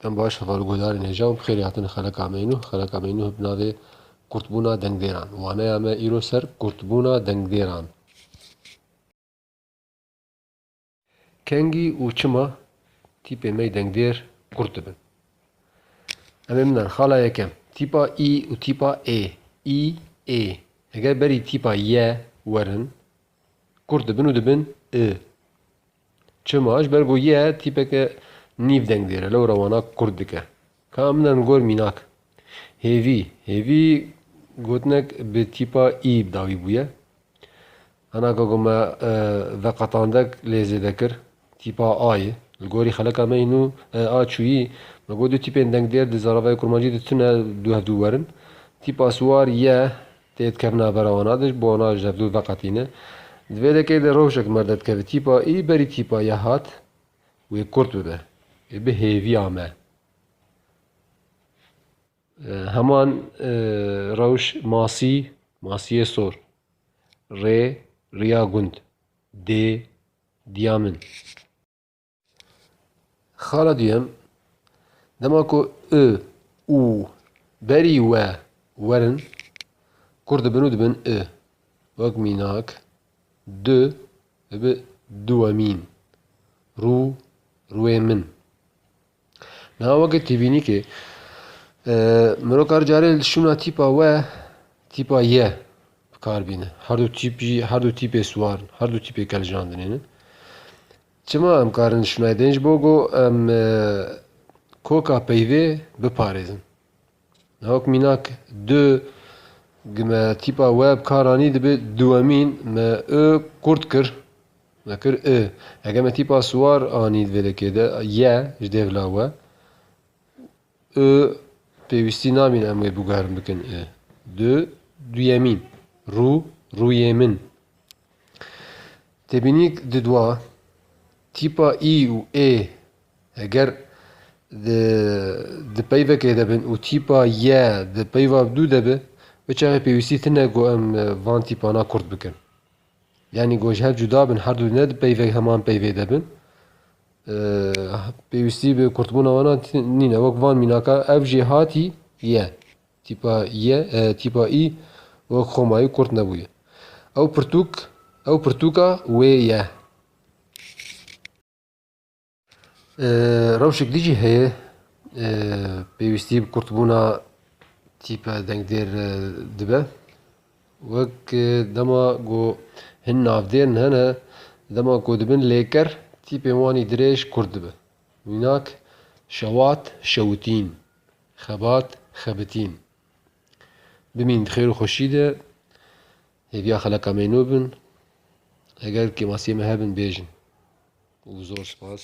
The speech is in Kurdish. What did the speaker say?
Em baş heval û guhdarên hêja û bi xêrê hatin li Xeleka Meynûh. Xeleka Meynûh bi navê Kurtbûna Dengdêran. Waneya me îro ser Kurtbûna Dengdêran. Kengî û çima tîpê mey dengdêr kurt dibin? Em ê binan xala yekem. Tîpa î û tîpa ê. Î, ê. Eger berî tîpa ye werin kurt dibin û dibin i. Çima? Ji ber ku ye tîpeke nîv deng dêre, lewra wana kurt dike. Ka min an gor mînak. Hêvî, hêvî gotinek bi tîpa î dawî bûye. Hana ka ku me veqetandek lê zêde kir, tîpa a ye. Li gorî xeleka me înû a çûyî, me got du tîpên dengdêr di zaravayê kurmancî de tune du hev du werin. Tîpa siwar ye, Tê dikevin navbera wan a dij, bi wan a ji hev dûr veqetîne. Di vê lekê de rewşek merde dikeve tîpa î, berî tîpa ya hat, wê kurt bibe. Wê bi hêvî ame. Heman rewş masî, masiyê sor, rê, riya gund, dê, diya min. Xala duyem, dema ku i, û, berî we werin, kur dibin û dibin i. Wek mînak, du dibe duwemîn, rû, rûê min. Niha weke tîbînîkê, mirov kar carê li şûna tîpa we, tîpa ye bi kar bîne. Her du tîp jî, her du tîpê siwar in, her du tîpê kevjandinê ne. Çima em karin Schneidein ji bo ku em koka peyvê biparêzin. Hewk mînak du gi me tîpa we bi kar anî dibe duwemîn me ü qurt kir, me kir ü. Heke me tîpa siwar anî di vê lekê de ye ji dêvla we. I, Pêwîstî nabîne em wê bûgerim bikin i. Du, duyemîn, rû, rûyê min. Têbînîk di dwa tîpa î û ê heger di di peyvekê de bin û tîpa ye di peyva bi dû de bi, bi çavê pêwîstî tine ku em van tîpana kurt bikin. Yanî ku ji hev cuda bin, her du ne di peyvek heman peyvê de bin. Pêwîstî bi kurtbûna wan a nîne. Wek van mînaka ev jê hatî ye. Tîpa ye, tîpa î wek xoma yî kurt nebûye. Ew pirtûk, ew pirtûka wê ye. Rewşek dî jî heye pêwîstî bi kurtbûna tîpe dengdêr dibe. Wek dema ku hin navdêr hene dema ku dibin lêker tîpên wan jî dirêj kurt dibe. Mînak, şewat, şewitîn, xebat, xebitîn. Bimîn bi xêr û xweşî de. Hêviya xeleka me nû bin. Eger kêmasiyê me hebin bêjin. Û zor spas.